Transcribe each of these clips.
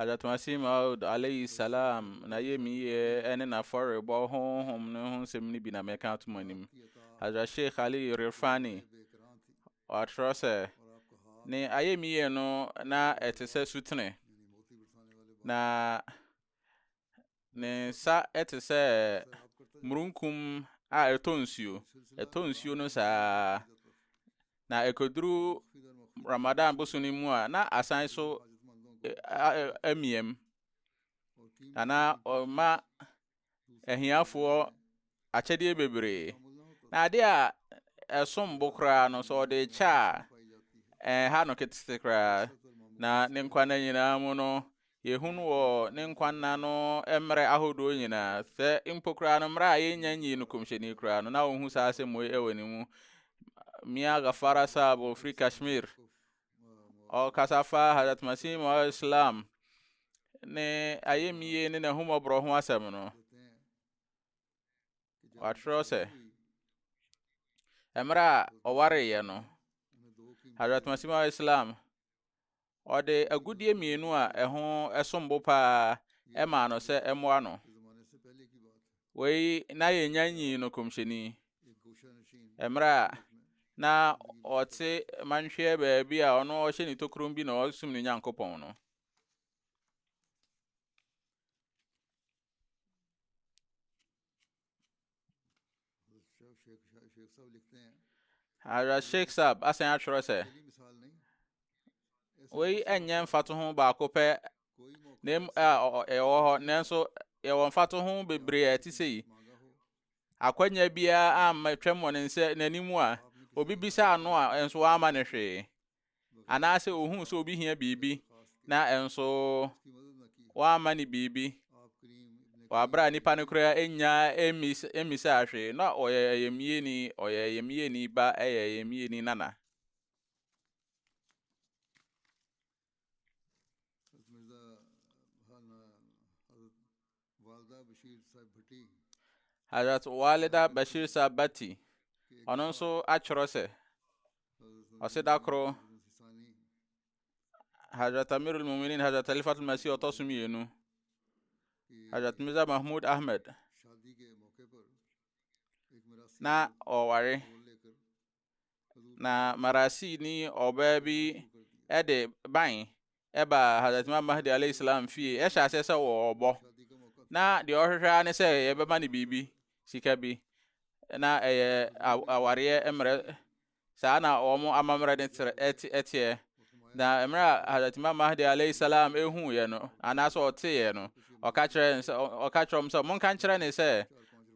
Hazrat Masih Maud alayhi salam n'ayamyie ne n'afɔrebɔ honhom no ho nsɛm no bi na mɛka ato mo anim Hazrat Sheikh Ali Irfani ɔatwerɛ sɛ ne ayamyie no na ɛte sɛ sutene na Ne nsa te sɛ murunkum a ɛtɔ nsuo. Ɛtɔ nsuo no saa. Na ɛkɔduru Ramadan boso no mu a, na asan so amiam. Na na ɔma ahiafoɔ akyɛdeɛ bebree. Na adeɛ a ɛsom bo koraa no, sɛ ɔde kyɛ a, ɛha no ketete koraa. Na ne nkwa nna nyinaa mu no, yɛhu no wɔ ne nkwa nna no mmerɛ ahodoɔ nyinaa. Sɛ mpo koraa no mmerɛ a yɛnnya nyii no kɔmhyɛni koraa no, na ɔhu saa asɛm wei wɔ ne mu. Mia Gafara Saab ɔfiri Kashmir, ɔkasa fa Hazrat Masih Maud Islam ne ayɛmyie ne n'ahummɔborɔ ho asɛm no. Wɔatwerɛ sɛ, mmerɛ a ɔwareeɛ no, Hazrat Masih Maud Islam, ɔde agudeɛ mmienu a ɛho sombo paa ɛmaa no sɛ ɛmmoa no. Wei na yɛnya nyii no kɔmhyɛni. Mmerɛ a na ɔte manhweɛ baabi a ɔno ɔhyɛ ne tokuro bi na ɔsum ne Nyankopɔn no. Hazrat Sheikh Saab asan atwerɛ sɛ wei ɛnyɛ mfatoho baako pɛ na ɛwɔ hɔ nanso yɛwɔ mfatoho bebree a ɛte sɛ yi akwanya biara amma twam wɔ ne nsɛ n'anim a obi bisa ano a nso wama no hwee anaasɛ ohuu sɛ obi hia biribi na ɛnso wamma ne biribi wɔ abere a nipa no koraa enya mmisa ahwee na ɔyɛ ayamyeni ɔyɛ ayamyeni ba ɛyɛ ayamyeni nana Hazrat Walida Bashir Saab Bhatti, ɔno nso atwerɛ sɛ, ɔse da koro Hazrat Amirul Muminin Hazrat Khalifatul Masih ɔtɔ so mmienu, Hazrat Mirza Mahmud Ahmed na ɔware na marasini ɔbaa bi de ban ɛba Hazrat Imam Mahdi alayhi salam fie ɛhyɛ aseɛ sɛ wɔrebɔ na deɛ ɔhwehwɛ ara ne sɛ yɛbɛma no biribi sika bi na ɛyɛ awareɛ mmerɛ saa na wɔn amammerɛ ne teɛ Na mmerɛ a Hazrat Imam Mahdi alayhi salam ɛhuuɛ no, anaasɛ ɔteeɛ no, ɔka kyerɛ sɛ ɔka kyerɛ ɔm sɛ monka nkyerɛ ne sɛ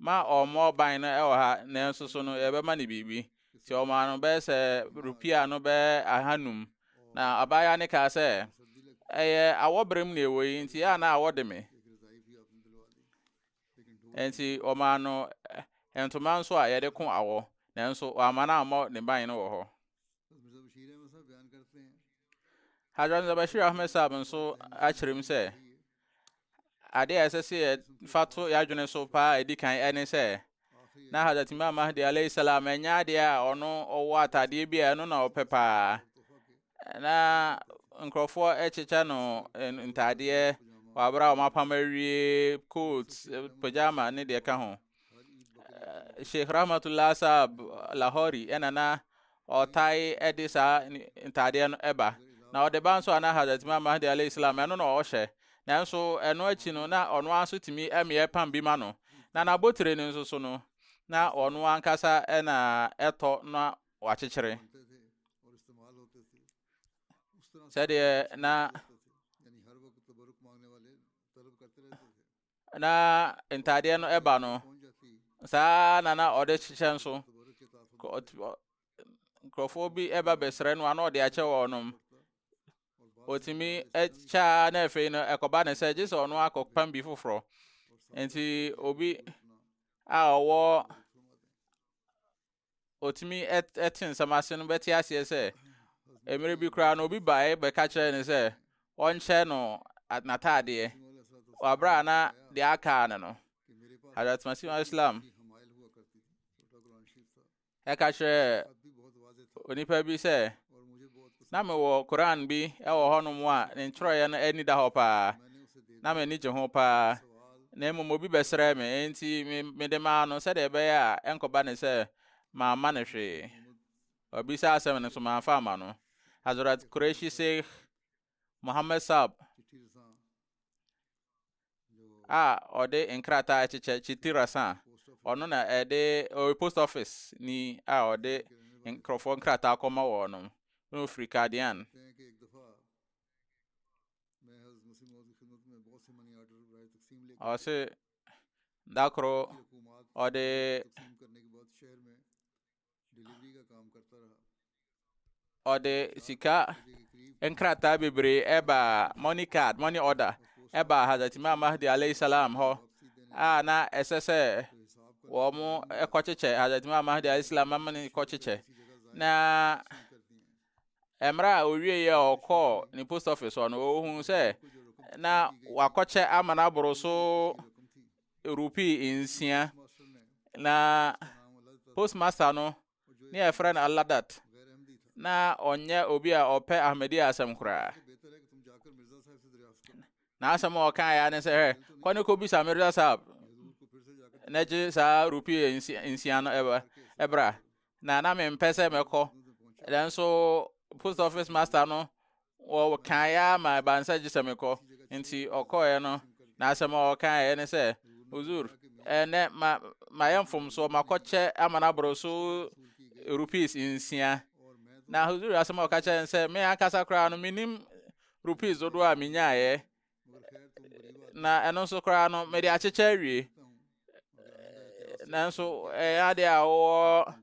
ma ɔmmɔ ɔban no ɛwɔ ha na nso so no yɛbɛma ne biribi. Nti ɔmaa no bɛyɛ sɛ rupia no bɛyɛ ahanum. Na abaayewa ne kaa sɛ ɛyɛ awɔberem na ɛwɔ yi nti a na awɔ de me. Nti ɔmaa no ntoma nso a yɛde ko awɔ, nanso wamma no ammɔ ne ban no wɔ hɔ. Hadrat Zabashir Ahmed Saab nso akyerɛ mu sɛ adeɛ a ɛsɛ sɛ yɛfa to yɛadwene so paa a ɛdi kan ɛne sɛ na Hazrat Imam Mahdi alayhi salam ɛnyɛ adeɛ a ɔno ɔwɔ atadeɛ bi a ɛno na ɔpɛ paa na nkurɔfoɔ ɛkyekyɛ no ntadeɛ wɔabrɛ a wɔapam awie coat pajama ne deɛ ka ho eh, sheikh rahmatullah saab lahori ɛna na ɔtae ɛde saa ntaadeɛ no ɛba na ɔde ba nso ana hazrat imam mahdi alayhi salam ɛno na ɔhyɛ nanso ɛno akyi no na ɔno ara nso tumi ɛmeɛ pam bi ma no na n'abotire no nso so no na ɔno ankasa ɛna ɛtɔ na wakyekyere sɛdeɛ na na ntadeɛ no ɛba no saa na na ɔde hyehyɛ nso nkurɔfoɔ bi ɛba bɛsrɛ no ano ɔde akyɛ wɔn nom ɔtumi kyɛa na afei no ɛkɔba ne sɛ gye sɛ ɔno akɔpam bi foforɔ nti obi a ɔwɔ otumi te nsɛm ase no bɛte aseɛ sɛ mmerɛ bi koraa na obi baeɛ bɛka kyerɛɛ no sɛ ɔnkyɛ no n'ataadeɛ wɔ aberɛ a na deɛ akaa no no Hazrat Masih Islam ɛka kyerɛ onipa bi sɛ na mewɔ koran bi wɔ hɔnom a ne nkyerɛeɛ no ani da hɔ paa na m'ani gye ho paa na mmom obi bɛsrɛ me enti mede maa no sɛdeɛ ɛbɛyɛ a ɛnkɔba ne sɛ mamma no hwee ɔbisa asɛm no so mamfa ama no Hazrat Qureshi Sheikh Mohammed Saab a ɔde nkrataa kyekyɛ Chiti Rasa ɔno na ɛde ɔyɛ post office ni a ɔde nkurɔfoɔ nkrataa kɔma wɔn no na ɔfiri Kadian ɔse da koro ɔde ɔde sika nkrataa bebree baa money card money order ɛbaa Hazrat Imam Mahdi alayhi salam hɔ a na ɛsɛ sɛ wɔn kɔkyekyɛ Hazrat Imam Mahdi alayhi salam ama ne kɔkyekyɛ na mmerɛ a owie yɛ ɔkɔɔ ne post office hɔ no ɔhunu sɛ na wakɔkyɛ ama no aboro so rupee nsia na postmaster no ne a yɛfrɛ no aladat na ɔnyɛ obi a ɔpɛ ahmadi asɛm koraa na asɛm a ɔka ya ne sɛ hɛ kɔ ne kɔbisa mirza sahab na gye saa rupee nsia no ɛbra na na mempɛ sɛ mɛkɔ nanso post office master no wɔkaeɛ ara ma ɛbaa nsa gye sɛ mekɔ nti ɔkɔeɛ no na asɛm a ɔkaeɛ ne sɛ uzur ɛnɛ ma mayɛ mfomsoɔ makɔkyɛ ama no aboro so rupees nsia na uzur asɛm a ɔka kyerɛ sɛ me ankasa koraa no menim rupees dodoɔ a menyaeɛ na ɛno nso koraa no mede akyekyɛ awie nanso ɛyɛ ade a wɔwɔ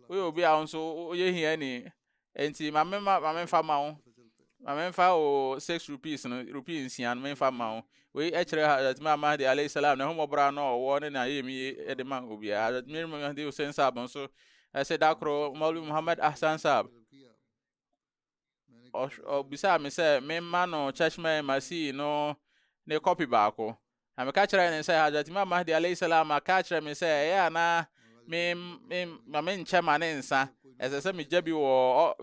woyɛ obi a nso woyɛ hiani nti maame ma maame nfa ma wo maame nfa wo six rupees no rupees nsia no menfa ma wo wei ɛkyerɛ hazrat maama de alayhi salam na ɛhomɔbra no ɔwɔ ne na yɛ mi de ma obiara hazrat miri mahdi hussein saab nso ɛsɛ da koro mɔlu muhammad ahsan saab Ɔbisaa me sɛ memma no Chashma al-Masih no ne kɔpi baako. Na meka kyerɛɛ ne sɛ Hazrat Imam Mahdi alayhi salam aka kyerɛ me sɛ ɛyɛ a na ma menkyɛ ma ne nsa. Ɛsɛ sɛ megya bi wɔ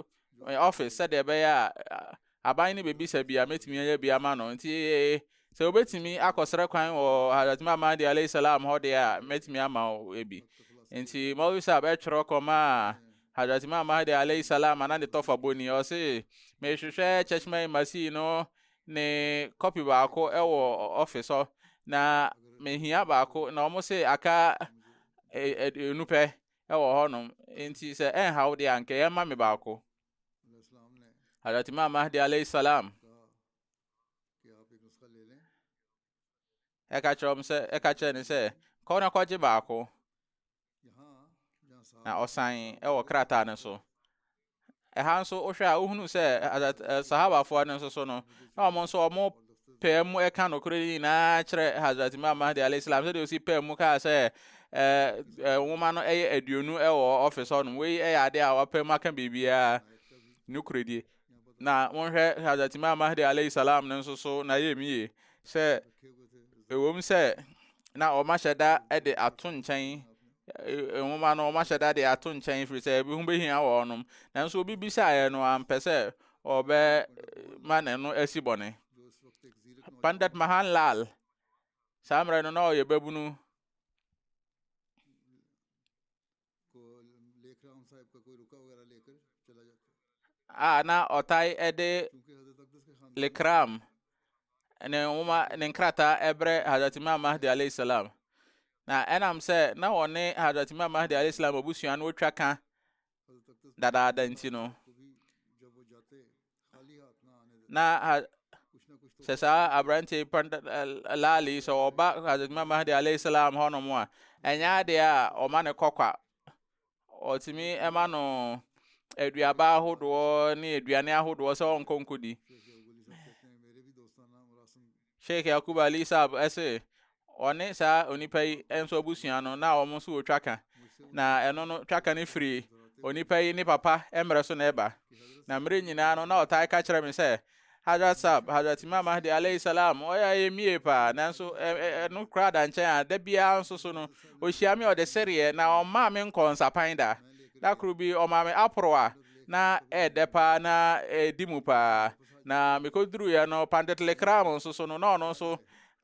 ɔfis sɛdeɛ ɛbɛyɛ a aban no bɛbisa bi a mɛtumi ayɛ bi ama no. Nti sɛ wobɛtumi akɔsrɛ kwan wɔ Hazrat Imam Mahdi alayhi salam hɔ deɛ a mɛtumi ama wo bi nti Maulvi Saab ɛtwerɛ kɔmaa Hadrat Imam Mahdi alayhi salaam a na ne tɔfa bɔ ni, ɔse, Mehwehwɛ Cheshma-e-Masih no ne kɔpi baako wɔ ɔfis hɔ, na mehia baako, na wɔn se aka enu pɛ wɔ hɔnom, nti sɛ ɛnhaw deɛ anka yɛmma me baako. Hadrat Imam Mahdi alayhi salaam ɛka kyerɛ wɔn sɛ ɛka kyerɛ no sɛ kɔ na kɔgye baako na ɔsan wɔ krataa no so ɛha nso wohwɛ a wohunu sɛ sahabafoɔ no nso so no na wɔn nso wɔn pɛɛ mu ɛka nokorɛ no nyinaa kyerɛ hazrat imam mahdi alayhi salam sɛdeɛ ɔsi pɛɛ mu kaa sɛ nwoma no ɛyɛ aduonu ɛwɔ ɔfis hɔ nom wei ɛyɛ adeɛ a wɔpɛ mu aka biribiara nokorɛdie Na monhwɛ Hazrat Imam Mahdi alayhi salam no nso so na yɛ mie sɛ ɛwom sɛ na ɔmahyɛ da de ato nkyɛn nwoma no ɔmahyɛ da de ato nkyɛn firi sɛ ebi ho behia wɔnom nanso obi bisaeɛ no ampɛ sɛ ɔbɛma ne no asi bɔne Pandit Mahan Lal saa mmerɛ no na ɔyɛ babunu a na ɔtae de likram ne nwoma ne nkrataa ɛbrɛ Hazrat Imam Mahdi alayhi salam na ɛnam sɛ na wɔne Hazrat Imam Mahdi alayhi salam abusua no twa ka dadaada nti no na ha sɛ saa aberante laale yi sɛ ɔba hadrat imam mahdi alayhi salam hɔnom a ɛnyɛ adeɛ a ɔma ne kɔkwa ɔtumi ɛma no aduaba ahodoɔ ne aduane ahodoɔ sɛ ɔnkɔ nkɔdi Sheikh Yaqub Ali Saab se ɔne saa onipa yi nso abusua no na wɔn nso wɔ twaka, na ɛno no twaka no firi onipa yi ne papa mmerɛ so na ɛba. Na mmerɛ nyinaa no na ɔtaa ka kyerɛ me sɛ Hazrat Saab, Hazrat Imam Mahdi alayhi salam, ɔyɛ ayɛ mie paa, nanso ɛno koraa da nkyɛn a, da biara nso so no, ɔhyia me ɔde sereɛ, na ɔmmaa me nkɔɔ nsapan da. Da koro bi ɔmaa me aporowa na ɛɛdɛ paa na ɛɛdi mu paa. na mekoduruiɛ no Pantetlekram nso so no na ɔno nso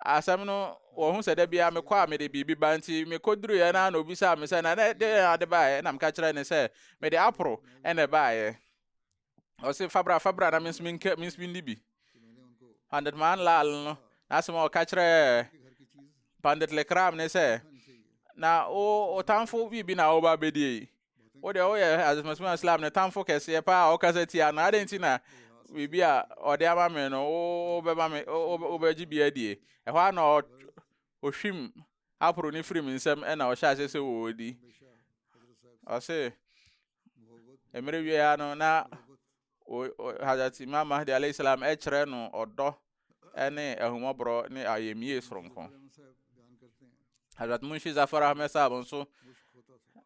asɛm no wɔhu sɛ da biara mekɔ a mede biribi ba nti mekɔduruiɛ no a na obisaa me sɛ na dɛn ade baeɛ na meka kyerɛ ne sɛ mede aporo ɛna ɛbaeɛ ɔse fabra fabra na menso menka menso menni bi pandit man lal no n'asɛm a ɔka kyerɛ pandit lekram ne sɛ na wo ɔtamfo biribi na woba bɛdie wo deɛ woyɛ adesomesome islam ne tamfo kɛseɛ paa a ɔkasa tia no adɛn nti na biribi a ɔde ama me no wobɛma me wobɛgye bi adie ɛhɔ a na ɔhwim aporo ne firim nsɛm ɛna ɔhyɛ aseɛ sɛ wɔdi ɔse mmerɛ wieɛ no na hazrat imam mahdi alayhi salam ɛkyerɛ no ɔdɔ ne ahummɔborɔ ne ayamyie soronko Hazrat Munshi Zafar Ahmed Saab nso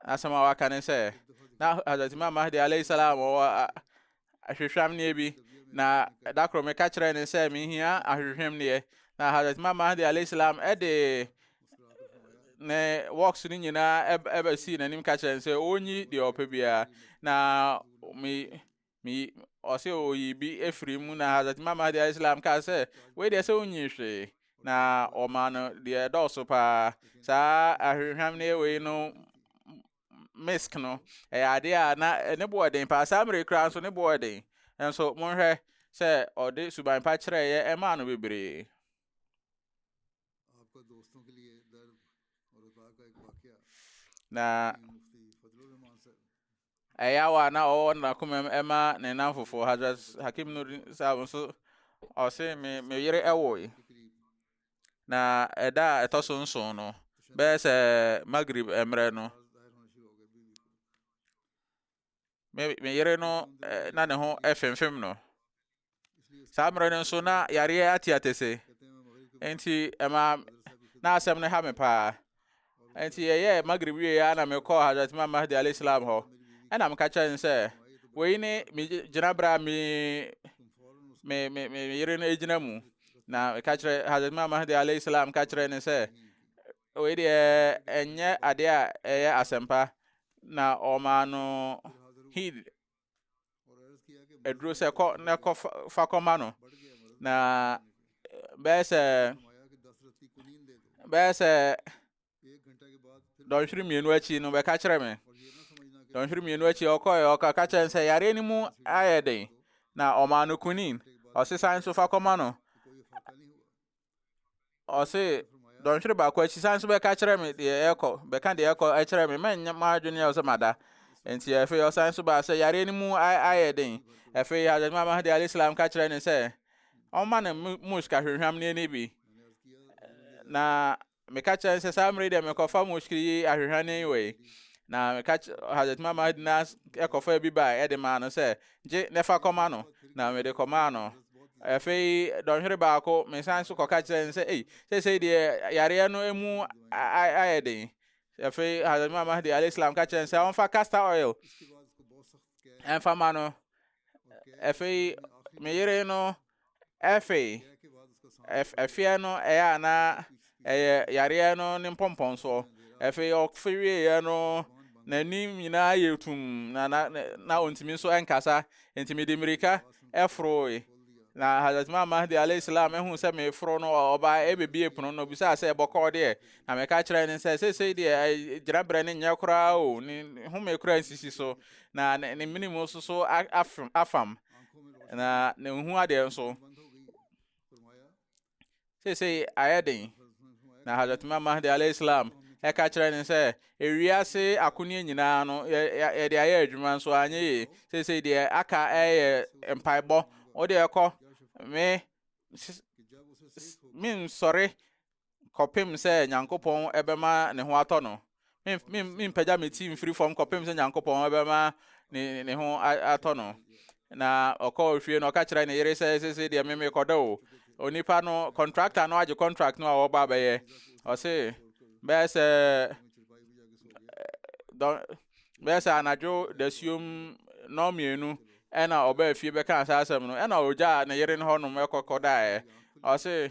asɛm a waka ne sɛ na Hazrat Imam Mahdi alayhi salam wɔ ahwehwɛmneɛ bi na da koro meka kyerɛ ne sɛ mehia ahwehwɛmneɛ na Hazrat Imam Mahdi alayhi salam ɛde ne works no nyinaa ɛbɛsii n'anim ka kyerɛ ne sɛ ɔnyi deɛ ɔpɛ biara na me Meyi, ɔse ɔyi bi afiri mu na Hazrat Imam Mahdi alayhi salam kaa sɛ, wei deɛ sɛ wonyi hwee, na ɔmaa no deɛ ɛdɔɔso paa. Saa ahwehwam no yɛ wei no misk no, ɛyɛ adeɛ a na ne boɔ den paa, saa mmerɛ koraa nso ne boɔ den. Nso monhwɛ sɛ ɔde suban pa kyerɛeɛ ɛmaa no bebree. Na Ɛyaw a na ɔwɔ n'akomam ma ne nnamfofo Hazrat Hakim Nuruddin Sahab nso ɔse me me yere ɛwoe. Na ɛda a ɛtɔ so nson no bɛyɛ sɛ Maghrib mmerɛ no me me yere no eh, na ne ho ɛfemfem no. saa mmerɛ no nso na yareɛ ateatese nti ɛma na asɛm no ha me paa nti ɛyɛ magrib wie a na mekɔɔ hadrat imam mahdi alayhi salam hɔ ɛna meka kyerɛ no sɛ wei ne me gyinaberɛ a me me me me yere no gyina mu na meka kyerɛ hadrat imam mahdi alayhi salam ka kyerɛ ne sɛ wei deɛ ɛnyɛ adeɛ a ɛyɛ asɛmpa na ɔmaa no hid aduro sɛ kɔ na kɔ fa kɔma no na bɛyɛ sɛ bɛyɛ sɛ dɔnhwere mmienu akyi no bɛka kyerɛ me dɔnhwere mmienu akyi ɔkɔɛ ɔka ka kyerɛ sɛ yareɛ no mu ayɛ den na ɔmaa no kunin ɔsesan nso fa kɔma no ɔse dɔnhwere baako akyi san so bɛka kyerɛ me deɛ ɛkɔ bɛka deɛ ɛkɔ kyerɛ me mɛnyɛ m'adwene ɛwɔ sɛ mada nti afei ɔsan so baa sɛ yareɛ no mu ayɛ den afei Hazrat Imam Mahdi alayhi salam ka kyerɛ ne sɛ ɔma no musk ahwehwam no ani bi na Meka kyerɛ no sɛ saa mmere deɛ mekɔfa mushkiri yi ahwehwane yi wei. Na meka Hazrat Imam Mahdi na ɛkɔfa bi baa ɛde maa no sɛ gye na ɛfa kɔma no. Na mede kɔmaa no. Afei dɔnhwere baako mesan so kɔka kyerɛ no sɛ ei seesei deɛ yareɛ no emu ayɛ den. Afei Hazrat Imam Mahdi alayhi salam ka kyerɛ no sɛ ɔmfa castor oil ɛmfa ma no. Afei me yere no Afei, ɛfeɛ no ɛyɛ a na ɛyɛ yareɛ no ne mpɔmpɔnsoɔ. Afei ɔfe wieeɛ no n'anim nyinaa yɛ tum na na na ɔntumi nso nkasa nti mede mmirika ɛforoe na Hazrat Imam Mahdi alayhi salam ehu sɛ meforo no ɔba ɛbɛbie pono no obisaa sɛ ɛbɔkɔɔ deɛ na meka kyerɛ ne sɛ seesei deɛ gyina berɛ ne nyɛ koraa o ne home koraa nsisi so na ne mene mu soso afam na na nhu adeɛ nso seesei ayɛ den na hadrat imam mahdi alayhi salam ɛka kyerɛ ne sɛ ewiase akoneɛ nyinaa no yɛde ayɛ adwuma nso anyɛ yie seesei deɛ aka ɛyɛ mpaebɔ wode ɛkɔ me mensɔre kɔpem sɛ Nyankopɔn bɛma ne ho atɔ no. Mempagya me ti mfiri fam kɔpem sɛ Nyankopɔn bɛma ne ho atɔ no. Na ɔkɔɔ fie no ɔka kyerɛ ne yere sɛ sese deɛ meme kɔdɔ o. Onipa no, kɔntrakta no agye kɔntrakt no a wɔba bɛyɛ. Ɔse, bɛyɛ sɛ bɛyɛ sɛ anadwo dasuom nɔɔ mmienu ɛna ɔbaa fie bɛkaa saa asɛm no ɛna ɔgyaa ne yere no hɔnom ɛkɔkɔdaeɛ. Ɔse,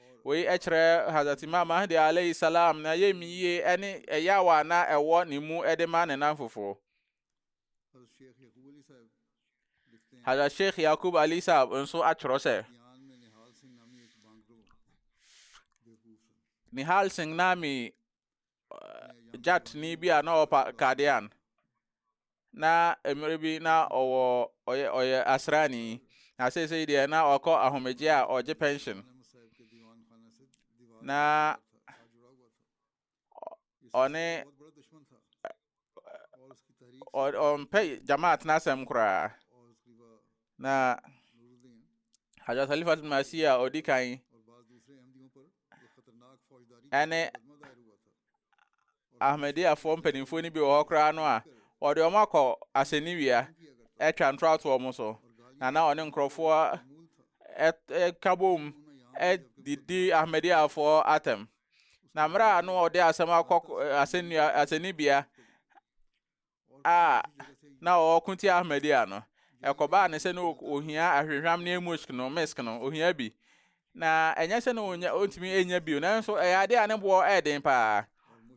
Wei kyerɛ Hazrat Imam Mahdi alaihi salaam n'ayamyie ne ɛyaw a na ɛwɔ ne mu de ma ne nnamfofoɔ. Hazrat Sheikh Yaqub Ali Sahab nso atwerɛ sɛ, Nihal Singh Nami gyatni bi a na ɔwɔ Kadean na mmerɛ bi na ɔwɔ ɔyɛ ɔyɛ asraani na seesei deɛ na ɔkɔ ahomegye a ɔgye pension na ɔne ɔmpɛ jamaat n'asɛm koraa na Hazrat Khalifat Masih a ɔdi kan ɛne Ahmadiyyafoɔ mpanimfoɔ no bi wɔ hɔ koraa no a wɔde wɔn akɔ asɛnnibea atwa ntoratoɔ wɔn so na na ɔne nkurɔfoɔ ɛka bom didi Ahmadiyyafoɔ atɛm na mmerɛ a no ɔde asɛm akɔ asɛnnua asɛnnibea a na ɔwɔ Kunti Ahmadiyya no ɛkɔbaa ne sɛ na ohia ahwehwam ne musk no misk no ohia bi na ɛnyɛ sɛ na onya ontumi enya bio nanso ɛyɛ ade a ne boɔ ɛden paa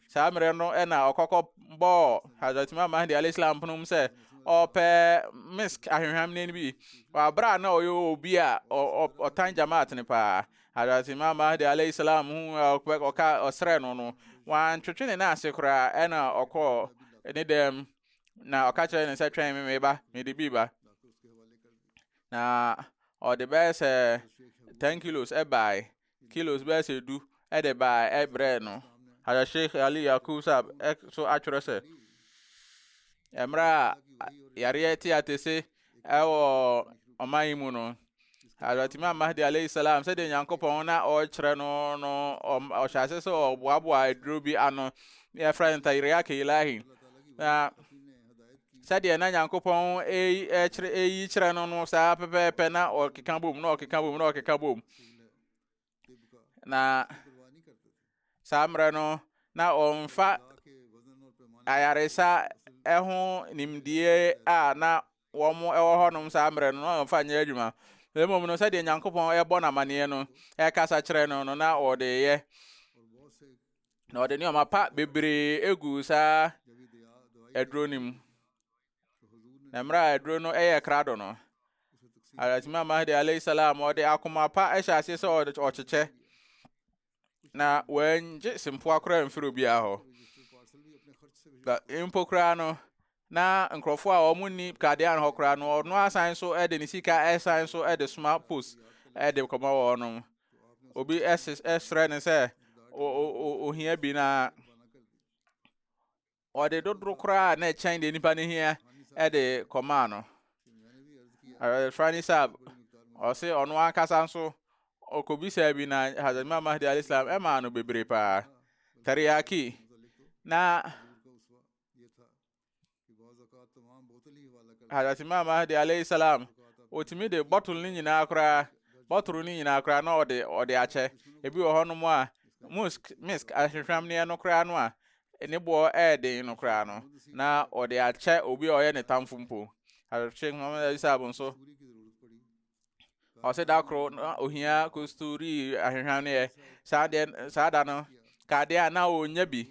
saa mmerɛ no ɛna ɔkɔkɔ bɔɔ Hazrat Imam Mahdi alayhi salam ponom sɛ ɔpɛ misk ahwehwam ne bi wɔ abere a na ɔyɛ obi a ɔtan jamaat ne paa Hadrat Imam Mahdi alayhi salam hu a ɔkpɛ- ɔka ɔsrɛ no no, wantwetwe ne nan ase koraa, ɛna ɔkɔɔ ne dɛm na ɔka kyerɛɛ no sɛ twɛn me me ba, mede bi ba. Na ɔde bɛyɛ sɛ 10 kilos ɛbae, kilos bɛyɛ sɛ du ɛde bae ɛbrɛɛ no. Hadrat Sheikh Ali Yaqub Saab ɛ- so atwerɛ sɛ, mmerɛ a yareɛ tiatese ɛwɔ ɔman yi mu no Hazrat Imam Mahdi alayhi salam sɛdeɛ Nyankopɔn na ɔrekyerɛ no no ɔhyɛ ase sɛ ɔboaboa aduro bi ano na yɛfrɛ no Tayriak Ilahi na sɛdeɛ na Nyankopɔn ɛyi kyerɛ no no saa pɛpɛɛpɛ na ɔkeka bom na ɔkeka bom na ɔkeka bom na saa mmerɛ no na ɔmfa ayaresa ho nimdie a na wɔn wɔ hɔnom saa mmerɛ no na ɔmfa nyɛ adwuma na mmom no sɛdeɛ nyankopɔn ɛbɔ no amanneɛ no ɛkasa kyerɛ no no na ɔde yɛ na ɔde nneɛma pa bebree egu saa aduro no mu Na mmerɛ a aduro no yɛ krado no, Hazrat Imam Mahdi alayhi salam ɔde akoma pa hyɛ aseɛ sɛ ɔkyekyɛ na wɔangye sempoa koraa mfiri obiara hɔ na mpo koraa no na nkurɔfoɔ a wɔn nni kadean hɔ koraa no ɔno asan so de ne sika ɛsan so de soma post de kɔma wɔn no obi ɛsrɛ ne sɛ ohia bi na ɔde dodoɔ koraa a na ɛkyɛn deɛ nipa no hia de kɔmaa no Rani Saab ɔse ɔno ankasa nso ɔkɔbisaa bi na Hazrat Imam Mahdi alayhi salam ɛmaa no bebree paa teriyaki na Hazrat Imam Mahdi alayhi salam ɔtumi de bottle no nyinaa koraa bottle no nyinaa koraa na ɔde ɔde akyɛ ebi wɔ hɔnom a musk misk ahwehwɛmneɛ no koraa no a ne boɔ yɛ den no koraa no, na ɔde akyɛ obi a ɔyɛ ne tamfo mpo. Sheikh Muhammad Isa Abu nso, ɔsɛ da koro na ohia kosturi ahwehwɛ no yɛ. Saa deɛ saa da no, kadeɛ a na ɔnya bi.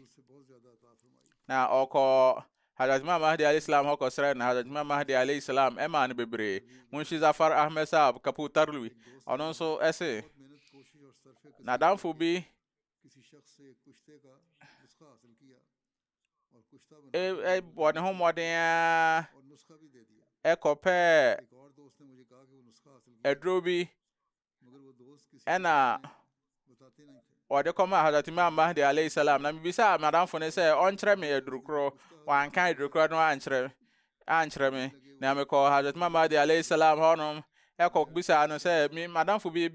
Na ɔkɔ Hazrat Imam Mahdi alayhi salam hɔ kɔsrɛ no. Hazrat Imam Mahdi alayhi salam ɛmaa no bebree. Munshi Zafar Ahmed Saab Kaputarlwi, ɔno nso ɛse, n'adamfo bi bɔɔ ne ho mmɔden ara kɔpɛɛ aduro bi ɛna wɔde kɔmaa Hazrat Imam Mahdi alayhi salam na mebisaa madamfo no sɛ ɔnkyerɛ me adurukoro wanka adurukoro no ankyerɛ ankyerɛ me, na mekɔɔ Hazrat Imam Mahdi alayhi salam hɔnom kɔbisaa no sɛ, me madamfo bi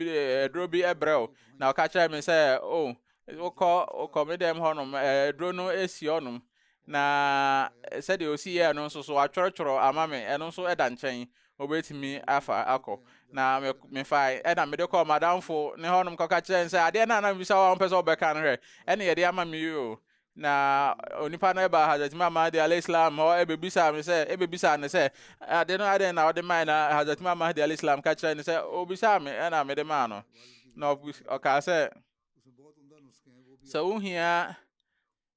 aduro bi brɛ wo, na ɔka kyerɛɛ me sɛ, o, oh, wokɔ wokɔ me dɛm hɔnom, aduro no si hɔnom, na sɛdeɛ osi yɛɛ no nso so atwerɛtwerɛ ama me, ɛno nso ɛda nkyɛn, obetumi afa akɔ. Na me mefae, ɛna mede kɔɔ madamfo ne hɔnom kɔka kyerɛ sɛ, adeɛ no a na mebisa wo a wompɛ sɛ wobɛka no hwɛ, ɛne yɛde ama me yi o. Na onipa no baa Hazrat Imam Mahdi alayhi salam hɔ ɛbɛbisaa me sɛ ɛbɛbisaa no sɛ ade no adɛn na ɔde mae na Hazrat Imam Mahdi alayhi salam ka kyerɛ no sɛ ɔbisaa me ɛna mede maa no na ɔkaa sɛ sɛ wohia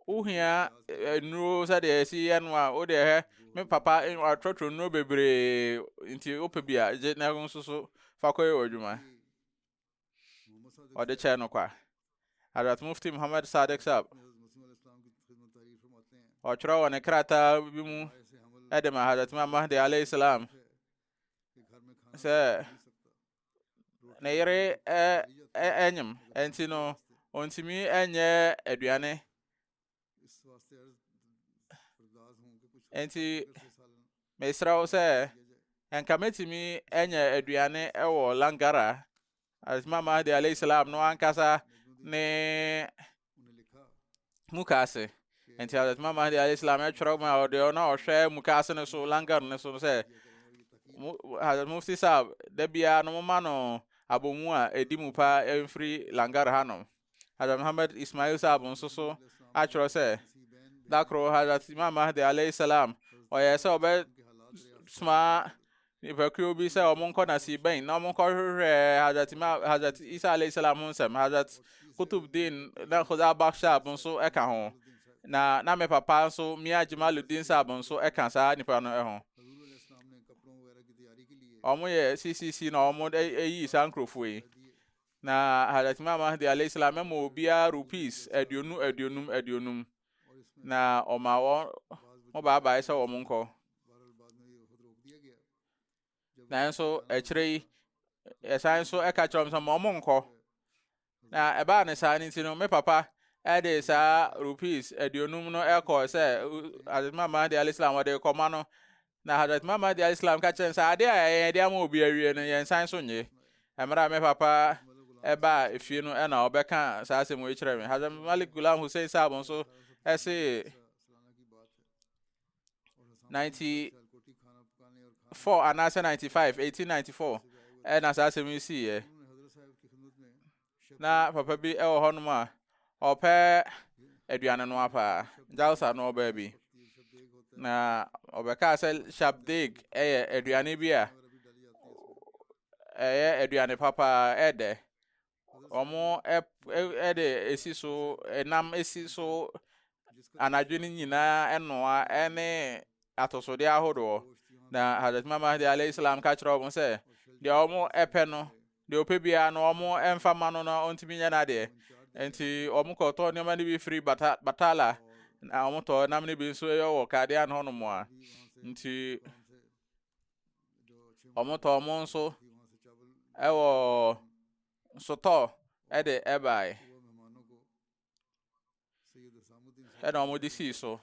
wohia eh, nnuro sɛdeɛ ɛsi yɛ no a wode ɛhɛ me papa eh, atrɔtrɔ nnuro bebree nti wopɛ bi a gye na nso so fa kɔyɛ wɔ adwuma ɔde kyɛɛ no kwa. Hazrat Mufti Muhammad Sadiq Saab, ɔtwerɛ wɔ ne krataa bi mu de ma Hazrat Imam Mahdi alayhi salam sɛ ne yere ɛnyem ɛnti no ɔntumi ɛnyɛ aduane nti mesrɛ wo sɛ nka mɛtumi anya aduane wɔ langara asma mahdi alayhi salam no ankasa ne muka ase nti asma mahdi alayhi salam ɛtwerɛ ma ɔde ɔna ɔhwɛ muka ase no so langar no so no sɛ hazrat mufti sab da biara no moma no abɔmu a ɛdi mu paa ɛmfiri langar hanom Hazrat Muhammad Ismail Saab nso so atwerɛ sɛ da koro Hazrat Imam Mahdi alayhi salam ɔyɛɛ sɛ ɔbɛsoma nnipakuo bi sɛ wɔn nkɔ nasi bɛn na wɔn nkɔhwehwɛ Hazrat Imam Hazrat Isa alayhi salam ho nsɛm Hazrat Kutubdin na Khuda Bakh Saab nso ka ho na na me papa nso Mia Jamaluddin Saab nso ka saa nipa no ho wɔn yɛ CCC na wɔn ayi saa nkurɔfoɔ yi Na Hazrat Imam Mahdi alayhi salam mɛma obiara rupees aduonu aduonum aduonum. Na ɔma wɔn mo baabae sɛ wɔn nkɔ. Nanso akyire yi, ɛsan nso ɛka kyerɛ wɔn sɛ ma wɔn nkɔ. Na ɛbaa ne saa no nti no, me papa ɛde saa rupees aduonum no ɛkɔ sɛ Hazrat Imam Mahdi alayhi salam wɔde kɔma no. Na Hadrat Muhammad alayhi salam ka kyerɛ no sɛ, ade a yɛn de ama obi awie no, yɛnsan so nnye. Mmerɛ a me papa ɛbaa efie no ɛna ɔbɛka saa asɛm wei kyerɛ me. Hadrat Malik Gulam Hussein Saab nso ɛse 90 four anaasɛ ninety five eighteen ninety four ɛna saa asɛm yi siiɛ Na papa bi wɔ hɔnom a ɔpɛ aduane noa paa. Jalsa no ɔbaa bi. Na ɔbɛkaa sɛ shabdeg yɛ aduane bi a ɛyɛ aduane papa ɛdɛ. Wɔn ɛde esi so ɛnam esi so anadwo no nyinaa ɛnoa ɛne atosodeɛ ahodoɔ. Na Hazrat Imam Mahdi alayhi salam ka kyerɛ wɔn sɛ deɛ wɔn ɛpɛ no Deɛ ɔpɛ biara no wɔmfa mma no na ɔntumi nyɛ n'adeɛ. Enti wɔkɔtɔ nneɛma no bi firi Bata, Batala, na wɔtɔ nam no bi nso yɛ wɔ Kadean hɔnom a. Nti wɔtɔ wɔn nso wɔ sotɔɔ de ɛbaeɛ. ɛna wɔn de sii so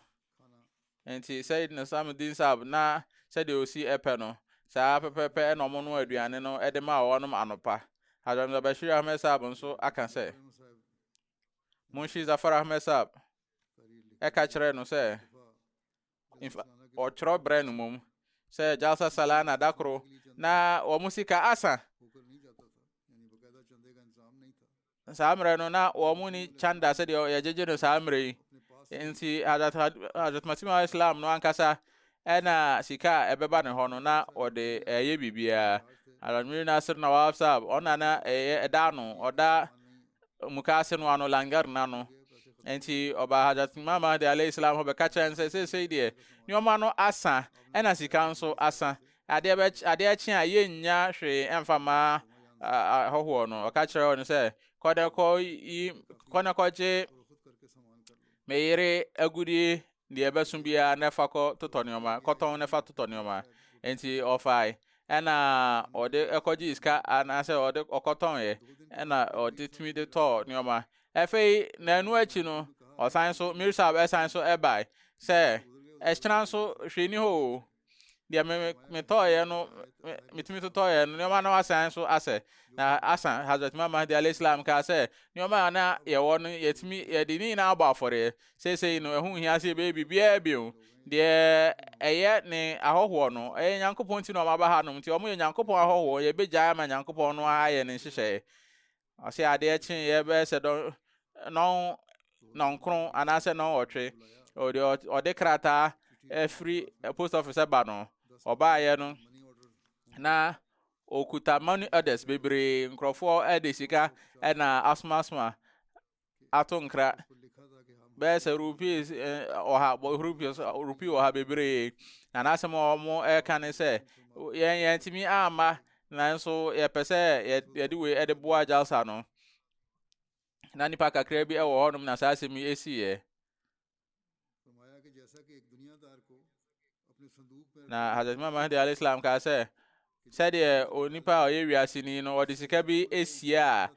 nti sɛyid na sam din sab na sɛdeɛ osi ɛpɛ no saa pɛpɛpɛ ɛna wɔn no aduane no ɛde ma wɔnom anopa hadram zabashir ahmed sab nso aka sɛ munshi zafar ahmed sab ɛka kyerɛ no sɛ Infa ɔtwerɛ berɛ no mmom sɛ Jalsa Salana da koro na wɔn sika asa. saa mmerɛ no na wɔn ni kyanda sɛdeɛ yɛgyegye no saa mmerɛ yi nti Hazrat Masih Maud Islam no ankasa ɛna sika a ɛbɛba ne hɔ no na ɔde ɛyɛ biribiara Hazrat Mir Nasir Nawab Saab ɔna na ɛyɛ ɛda ano ɔda mukaase no ano, langar no ano. Enti ɔbaa Hajat Imam Mahdi alayhi salam hɔ bɛka kyerɛ no sɛ seesei deɛ nneɛma no asa ɛna sika nso asa. Adeɛ bɛ adeɛ akye a yɛnnya hwee ɛmfa ma ahɔhoɔ no. Ɔka kyerɛ no sɛ kɔdɛkɔ yi kɔnɛkɔgye me yere agudie deɛ ɛbɛso biara na ɛfa kɔ totɔ nneɛma kɔtɔn na ɛfa totɔ nneɛma nti ɔfae ɛna ɔde ɛkɔgye sika anaasɛ ɔde ɔkɔtɔn yɛ ɛna ɔde tumi de tɔɔ nneɛma ɛfɛyi na ɛno akyi no ɔsan so mirisab ɛsan so ɛbae sɛ ɛhyɛn so hwɛ ni hɔ o deɛ me metɔɔeɛ no metumi totɔɔeɛ no nneɛma no asan so asɛ na asa hazrat imam mahdi alayhi salam kaa sɛ nneɛma a na yɛwɔ no yɛtumi yɛde ne nyinaa abɔ afɔreɛ seesei no ɛho hia sɛ yɛbɛyɛ biribiara bio deɛ ɛyɛ ne ahɔhoɔ no ɛyɛ nyankopɔn ti na ɔmaba ha nom nti ɔmo yɛ nyankopɔn ahɔhoɔ yɛbɛgyae ama nyankopɔn no ayɛ ne nhyehyɛeɛ Ɔse adeɛ kyeeɛ bɛyɛ sɛ dɔn nɔn nɔnkron anaasɛ nɔnwɔtwe ɔde ɔde krataa afiri post office ba no ɔbaayɛ no na ɔkuta money orders bebree nkurɔfoɔ de sika na asomasoma ato nkra bɛyɛ sɛ rupees ɔha rupees rupee ɔha bebree na n'asɛm a wɔn ɛka ne sɛ yɛn yɛn tumi amma nanso yɛpɛ sɛ yɛde wei ɛde boa jalsa no na nipa kakra bi ɛwɔ hɔnom na saa asɛm yi esiiɛ. Na Hazrat Imam Mahdi alayhi salam kaa sɛ sɛdeɛ onipa a ɔyɛ wiase ni no ɔde sika bi asie a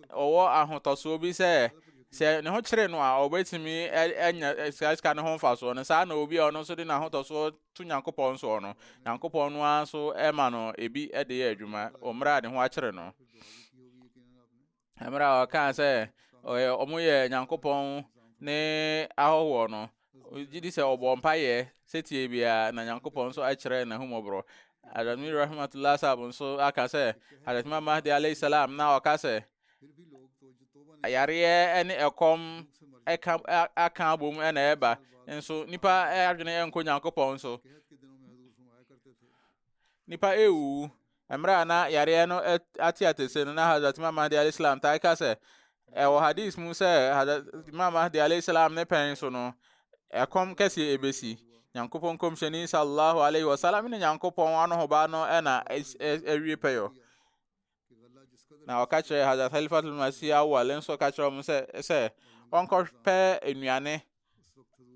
ɔwɔ ahotɔsoɔ bi sɛ sɛ ne ho kyere no a ɔbɛtumi anya saa sika no ho mfasoɔ no saa na obi a ɔno nso de n'ahotɔsoɔ to nyankopɔn soɔ no nyankopɔn no ara nso ɛma no ebi de yɛ adwuma ɔmmerɛ a ne ho akyere no mmerɛ a ɔkaa sɛ ɔyɛ ɔmo yɛ nyankopɔn ne ahɔhoɔ no gye di sɛ ɔbɔ mpayɛ sɛtie biara na nyankopɔn nso akyerɛ n'ahumɔborɔ adamni rahmatullah sab nso aka sɛ adasima mahdi alayhi salam na ɔka sɛ ayareɛ ne ɛkɔm ɛka aka abom ɛna ɛba nso nipa adwene ɛnkɔ nyankopɔn so nipa ɛwu Mmerɛ a na yareɛ no ate atese no, na Hazrat Imam Mahdi alaih salam taa ka sɛ, ɛwɔ hadis mu sɛ Hazrat Imam Mahdi alaih salam ne pɛn so no, ɛkɔm kɛseɛ ɛbɛsi. Nyankopɔn kɔmhyɛni sallallahu alaihi wasallam ne Nyankopɔn anohoba no na awie pɛyɔ. Na ɔka kyerɛ Hazrat Khalifatul Masih Awwal nso ka kyerɛ wɔn sɛ sɛ ɔnkɔpɛ nnuane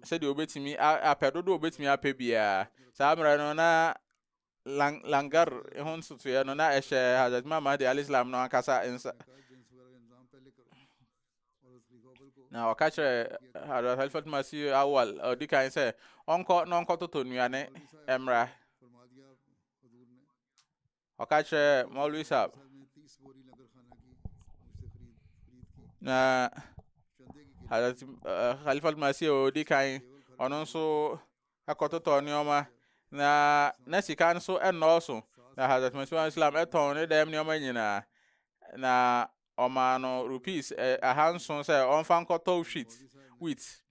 sɛdeɛ obetumi apɛ dodo obetumi apɛ biara. Saa mmerɛ no na lang langar ho ntotoeɛ no na ɛhyɛ Hazrat Imam Mahdi alayhi salam no ankasa nsa na ɔka kyerɛ Hazrat Halifat Masih Awal ɔdi kan sɛ ɔnkɔ na ɔnkɔtoto nnuane mmra ɔka kyerɛ Maulwi Sahab na Hazrat eh, Halifat Masih ɔdi kan ɔno nso kɔtotɔɔ nneɛma, na na sika no so nnɔɔso, na Hazrat Masih Maud Islam tɔn ne dɛm nneɛma nyinaa, na ɔmaa no rupees eh, ahanson sɛ ɔmfa nkɔtɔ wheat, wheat.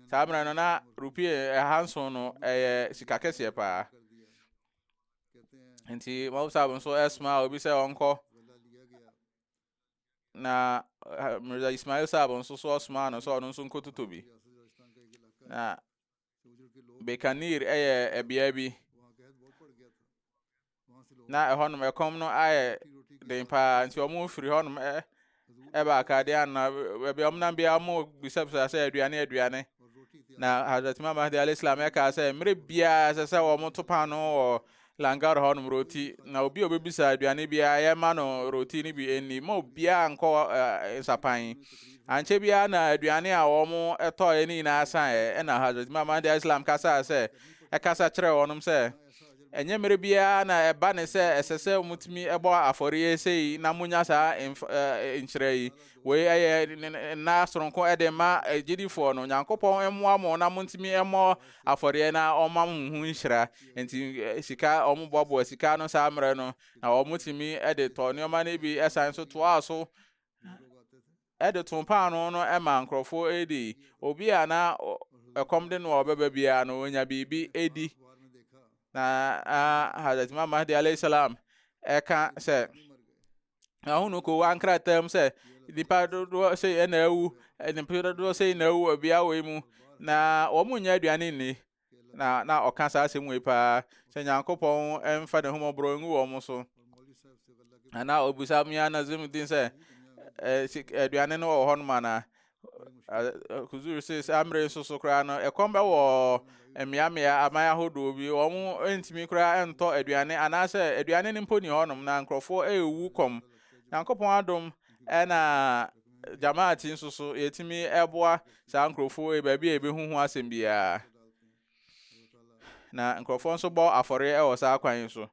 Saa mmerɛ no na rupee eh, ahanson no ɛyɛ eh, sika kɛseɛ paa. Nti Maud Saab nso ɛsomaa obi sɛ ɔnkɔ na eh, Mirza Ismail Saab nso so ɔsomaa no sɛ ɔno nso nkɔtotɔ bi. Na Bekanir yɛ ɛbea bi. Na ɛhɔnom ɛkɔm no ayɛ den paa nti wɔn firi hɔnom ɛ ɛba akaade ana baabi a wɔn nam biara wɔn bisabisa sɛ aduane aduane. Na Hazrat Imam Mahdi alayhi salam ɛkaa sɛ mmerɛ biara ɛsɛ sɛ wɔn to paano wɔ Langar hɔnom roti, na obi a obebisa aduane biara, yɛma no roti no bi nni. Mma obiara nkɔ nsapan. Ankyɛ biara na aduane a wɔtɔɔeɛ no nyinaa saeɛ. Ɛnna Hazrat Imam Mahdi al-Islam kasaa sɛ, ɛkasa kyerɛɛ wɔnom sɛ, Ɛnyɛ mmerɛ biara na ɛba ne sɛ ɛsɛ sɛ motumi bɔ afɔreɛ sei na monya saa nhyira yi. Wei ɛyɛ nna soronko de ma agyidifoɔ no. Nyankopɔn mmoa mo na motumi mmɔ afɔreɛ na ɔmma mo ho nhyira. Enti sika, wɔboaboa sika no saa mmerɛ no, na wɔtumi de tɔ nneɛma no bi san so toaa so de too paano no ma nkurɔfoɔ di. Obi a na ɛkɔm de no a ɔbɛba biara no, ɔnya biribi di. Na Hazrat Imam Mahdi alayhi salam ɛka sɛ, ahunu ko ankrataa mu sɛ, nipa dodoɔ sɛ na awu, nipa dodoɔ sɛ na awu wɔ beaeɛ wei mu, na wɔn nyɛ aduane nni. na na ɔka saa asɛm wei paa sɛ nyankopɔn mfa ne homɔborɔ ngu wɔn so ana ɔbusa mia nazim din sɛ aduane no wɔ hɔ nom anaa kuzur se saa mmerɛ nso so koraa no ɛkɔm bɛwɔ mmeammea aman ahodoɔ bi wɔn ntumi koraa ntɔ aduane anaasɛ aduane no mpo ni hɔnom na nkurɔfoɔ ɛrewu kɔm nyankopɔn adom ɛna Jamaat nso so, yɛtumi boa saa nkurɔfoɔ wei baabi a yɛbɛhu ho asɛm biara. Na nkurɔfoɔ nso bɔ afɔreɛ wɔ saa kwan yi so.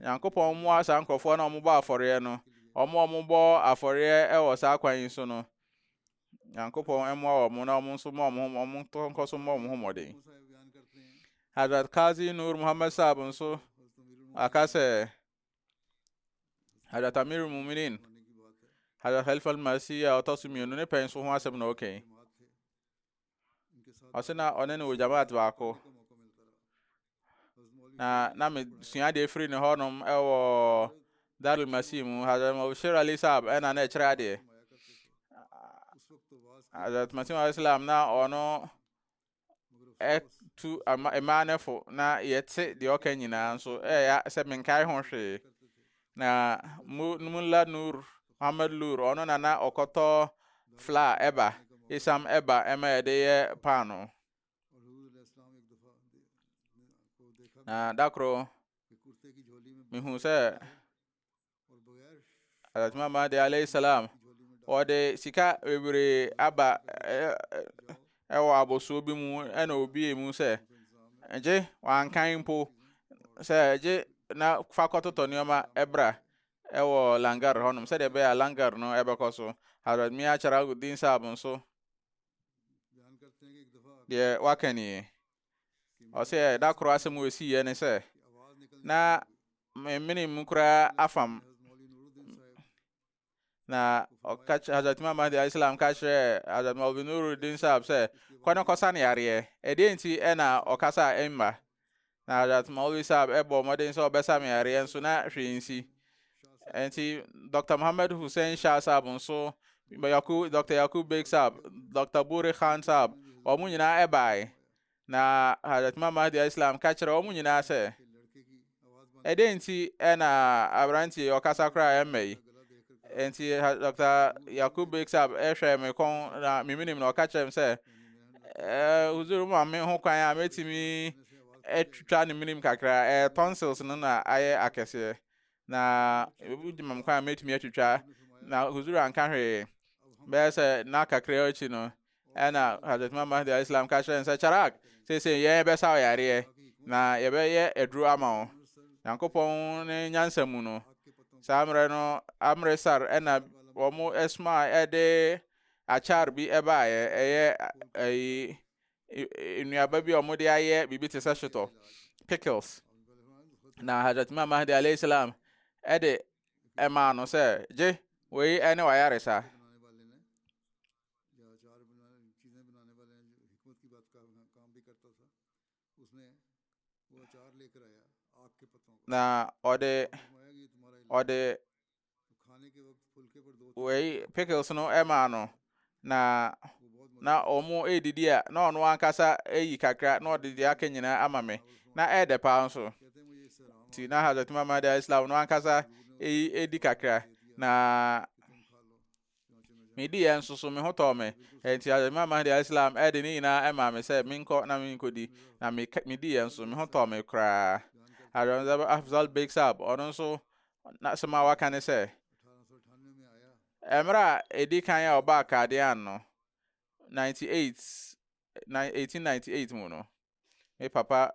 Nyankopɔn mmoa saa nkurɔfoɔ na wɔbɔ afɔreɛ no. Wɔn a wɔbɔ afɔreɛ wɔ saa kwan yi so no, Nyankopɔn mmoa wɔn na wɔn nso mmɔ wɔn wɔn tɔ nkɔ so mmɔ wɔn ho mmɔden. Hazrat Kazi Nur Muhammad Saab nso aka sɛ, Hadrat Amir Muminin, Hadrat Khalifa al-Masih a ɔtɔ so mmienu ne pɛn so ho asɛm na ɔka yi. Ɔse na ɔne ne wɔ jamaat baako. Na na mesua adeɛ firi ne hɔnom ɛwɔ Darul Masih mu. Hadrat Mabshir Ali Saab ɛna na ɛkyerɛ adeɛ. Hadrat Masih Islam na ɔno tu mmaa no fo na yɛte deɛ ɔka nyinaa nso ɛyɛ sɛ menkae ho hwee na mula nur muhammad lur ɔno na na ɔkɔtɔ fla ɛba isam ɛba ɛma yɛde yɛ paano na dakoro mehu sɛ Hazrat Imam Mahdi alayhi salam wɔde sika bebree aba ɛwɔ abosoɔ bi mu ɛna obie mu sɛ gye wankan mpo sɛ gye na fa kɔtotɔ nneɛma ɛbra ɛwɔ langar hɔnom sɛdeɛ ɛbɛyɛ a langar no ɛbɛkɔ so Hazrat Mia Charagudin Saab nso deɛ waka nie Ɔsɛ da koro asɛm a ɛsiiɛ ne sɛ na memene mu koraa afam na ɔka Hazrat Imam Mahdi alayhi salam ka kyerɛɛ Hazrat Maulvi Nuruddin Sahab sɛ kɔ ne kɔsa ne yareɛ ɛdeɛ nti ɛna ɔkasa ɛmma na Hazrat Maulvi Sahab ɛbɔ mmɔden sɛ ɔbɛsa me yareɛ nso na hwee nsi Enti Dr. Mohammed Hussein Shah Saab nso, Yaku, Dr. Yakub Beg Saab, Dr. Buri Khan Saab, wɔn nyinaa ɛbae. Na Hazrat Imam Mahdi Islam ka kyerɛ wɔn nyinaa sɛ, ɛdɛn nti ɛna aberanteɛ ɔkasa koraa ɛmma yi? Enti Dr. Yakub Beg Saab ɛhwɛɛ me kɔn na meminim na ɔka kyerɛ me sɛ, Ɛɛ wo maame ho kwan a mɛtumi atwitwa ne menim kakra ɛɛ tonsils no na ayɛ akɛseɛ na ebi gyina mu kwan a mɛtumi atwitwa na huzuru anka hwee bɛyɛ sɛ na kakra akyi no ɛna hazrat mama de islam ka kyerɛ sɛ charak sese yɛn bɛsa wo yareɛ na yɛbɛyɛ aduro ama wo nyankopɔn ne nyansa mu no saa mmerɛ no amresar ɛna wɔn ɛsoma ɛde Acar bi baeɛ, ɛyɛ ayi nnuaba bi a wɔde ayɛ biribi te sɛ shotɔ, pickles. Na Hazrat Imam Mahdi alayhi salam ɛde ɛmaa no sɛ gye wei ɛne wayaresa. Na ɔde ɔde wei pickles no maa no na na wɔn redidi a na ɔno ankasa ayi kakra na ɔde deɛ aka nyinaa ama me na ɛyɛ paa nso ti na hazard mama de islam no ankasa eyi edi kakra na Me diiɛ nso so, me ho tɔɔ me, enti Hazrat Imam Mahdi alaih salam de ne nyinaa maa me sɛ menkɔ na menkɔdi, na me me diiɛ nso, me ho tɔɔ me koraa. Hazrat Afzal Beg Sahab, ɔno nso, n'asɛm a waka ne sɛ, mmerɛ a ɛdi kan a ɔbaa Qadian no, 98, 1898 mu no, me papa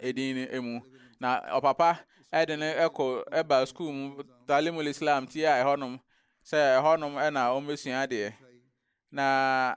edin no mu. Na ɔpapa de no kɔ ba sukuu mu Talimul Islam ti a ɛhɔnom sɛ ɛhɔnom na wɔbɛsua adeɛ. Na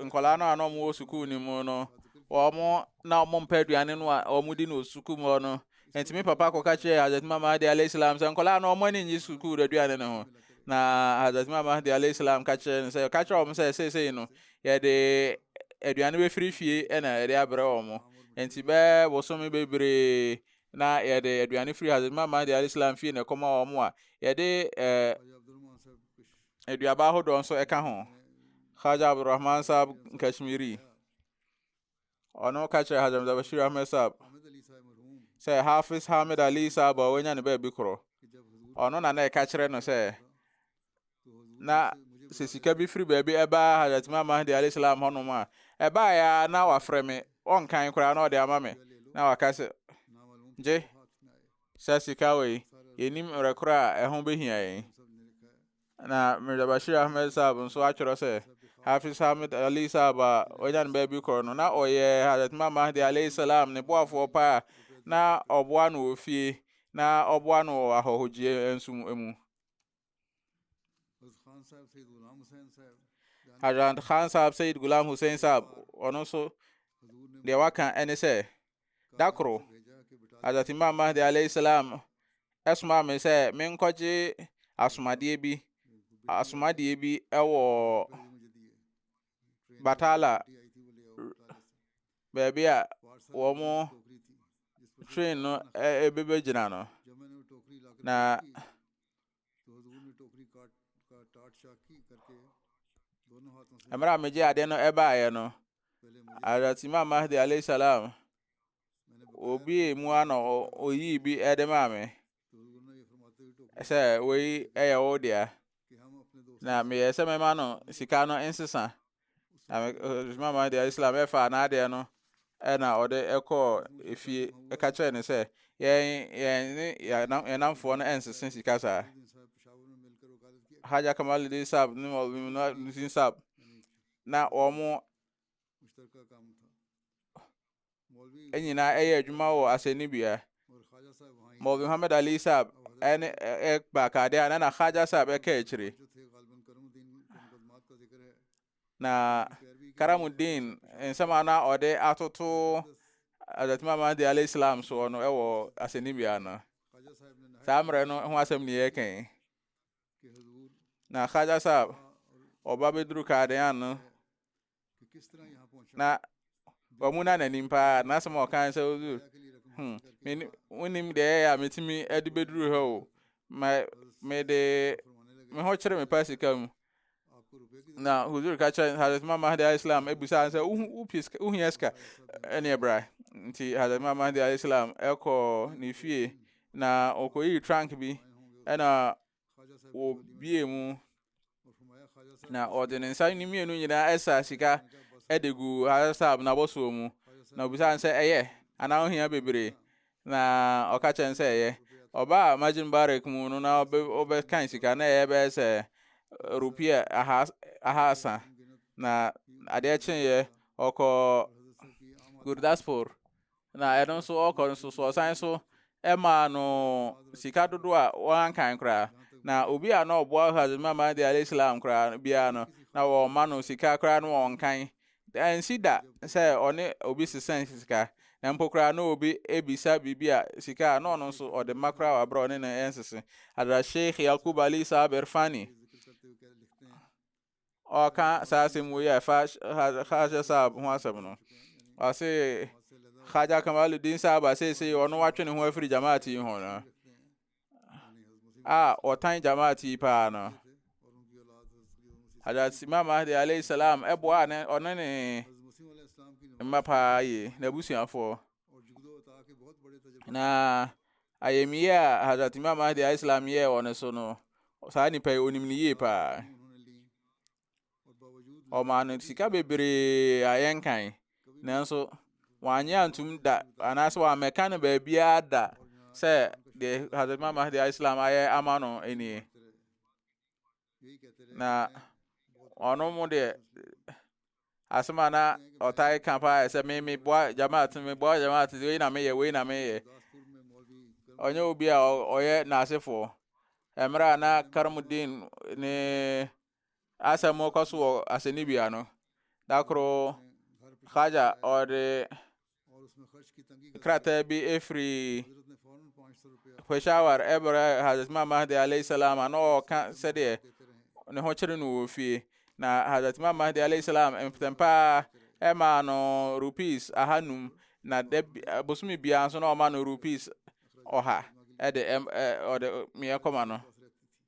nkwadaa no a na wɔwɔ sukuu no mu no, wɔn na wɔmpɛ aduane no a wɔdi no wɔ sukuu mu hɔ no. Nti me papa kɔka kyerɛɛ Hazrat Imam Mahdi alayhi salam sɛ nkwadaa no wɔn ani nnye sukuu aduane no ho. Na Hazrat Imam Mahdi alayhi salam ka kyerɛɛ no sɛ ka kyerɛ wɔn sɛ seesei no Yɛde aduane bɛfiri fie na yɛde abrɛ wɔn mo. Nti bɛɛ bosome bebree na yɛde aduane firi Hazrat Imam Mahdi alayhi salam fie na ɛkɔma wɔn mo a yɛde ɛɛ aduaba ahodoɔ nso ɛka ho. Khaja Abdurrahman Saab Kashmiri. ɔno ka kyerɛ Hazrat Mirza Bashir Ahmed Saab sɛ Hafiz Hamid Ali Saab a wanya ne baabi korɔ ɔno na na ɛka kyerɛ no sɛ na sɛ sika bi firi baabi ɛbaa Hazrat Imam Mahdi alayhi salam hɔnom a ɛbaeɛ a na wafrɛ me ɔnkan koraa na ɔde ama me na waka sɛ gye sɛ sika wei yɛnim mmerɛ korɔ a ɛho bɛhia yɛn Na Mirza Bashir Ahmed Saab nso atwerɛ sɛ, Hafiz Hamid Ali Saab a wanya no baabi korɔ no, na ɔyɛ Hazrat Imam Mahdi alayhi salam ne boafoɔ paa a na ɔboa no wɔ fie na ɔboa no wɔ ahɔhogyie nso mu. Hazrat Khan Saab Sayyid Ghulam Hussain Saab, ɔno nso deɛ waka ne sɛ, Da koro, Hazrat Imam Mahdi alayhi salam ɛsomaa me sɛ menkɔgye asomadeɛ bi asomadeɛ bi ɛwɔ Batala baabi a wɔn train no ɛbɛbɛgyina no na mmerɛ a megye adeɛ no ɛbaeɛ no Hazrat Imam Mahdi alayhi salam obie mu ano oyii bi ɛde maa me sɛ wei ɛyɛ wo dea na meyɛ sɛ mɛma no sika no nsesa mama deɛ islam ɛfa anaadeɛ no ɛna ɔde ɛkɔɔ efie ɛka kyerɛ ne sɛ yɛn yɛn ne yɛn namfoɔ no ɛnsese sika saa hajj kamaludin sab ne mɔludin sab na wɔn nyinaa yɛ adwuma wɔ asɛnnibea. Maulvi Muhammad Ali Saab ɛne ɛba kade a na na Khaja Saab ɛka akyire. Na Karamuddin nsɛm a na ɔde atoto Hazrat Imam Mahdi alayhi salam soɔ no ɛwɔ asɛnnibea no. Saa mmerɛ no ho asɛm ne yɛka yi. Na Khaja Saab ɔba bɛduru Kadean no na wɔn na n'anim paa n'asɛm a ɔkan sɛ ɔdu hmm mene wonim deɛ ɛyɛ a metumi de bɛduru ha o ma mede me ho kyerɛ me pa sika mu na huzur ka kyerɛ hazrat imam mahdi alayhi salam abisa sɛ wohia sika ɛneɛ bra nti hazrat imam mahdi alayhi salam ɛkɔ ne fie na ɔkɔyii trunk bi ɛna wɔbuee mu, na ɔde ne nsa no mmienu nyinaa ɛsa sika ɛde gu Hazrat n'abɔsoɔ mu, na obisaa no sɛ ɛyɛ anaa ohia bebree, na ɔka kyɛn sɛ ɛyɛ. Ɔbaa Masjid Mubarak mu no na ɔbɛkan sika na ɛyɛ bɛyɛ sɛ rupia ahasa, na adeɛ kyeeɛ ɔkɔ Gurdaspur na ɛno nso ɔkɔ nso so ɔsan nso ɛmaa no sika dodo a wɔankan koraa na obi a na ɔboa Hazrat Muhammad alayhi Islam koraa biara no na wɔma no sika koraa no wɔnkan ɛnsi da sɛ ɔne obi sesɛn sika na mpo koraa na obi ebisa biribi a sika a na ɔno nso ɔde ma koraa wɔ abere ɔne no ɛnsese Hazrat Sheikh Yakub Ali Saab Irfani ɔka saa asɛm wei a ɛfa hajj saab ho asɛm no ɔse hajj kamaludin saab a seesei ɔno watwe ne ho afiri jamaat yi ho no a ɔtan jamaat yi paa no hajj imam mahdi alayhi salam ɛboa ne ɔne ne mma paa yie n'abusuafoɔ Na ayamyie a Hazrat Imam Mahdi a Islam yɛɛ wɔ ne so no, saa nipa yi onim ne yie paa. Ɔmaa no sika bebree a yɛnkan, nanso wanyɛ antum da anaasɛ wammɛka no baabiara da sɛ deɛ Hazrat Imam Mahdi a Islam ayɛ ama no nie. Na ɔno mu deɛ asɛm a na ɔtae ka paa sɛ me meboa jamaat meboa jamaat wei na meyɛ wei na meyɛ ɔnyɛ obi a ɔyɛ n'asefoɔ mmerɛ a na karamudin ne asɛm kɔ so wɔ asɛnnibea no da koro haja ɔde Krataa bi firi Peshawar ɛbrɛ Hazrat Imam Mahdi alayhi salam a na ɔreka sɛdeɛ ne ho kyere no wɔ fie na Hazrat Imam Mahdi alayhi salam mpɛtɛmpaa ɛmaa no rupees ahanum na da bosome biara nso na ɔma no rupees ɔha ɛde ɔde meɛ kɔma no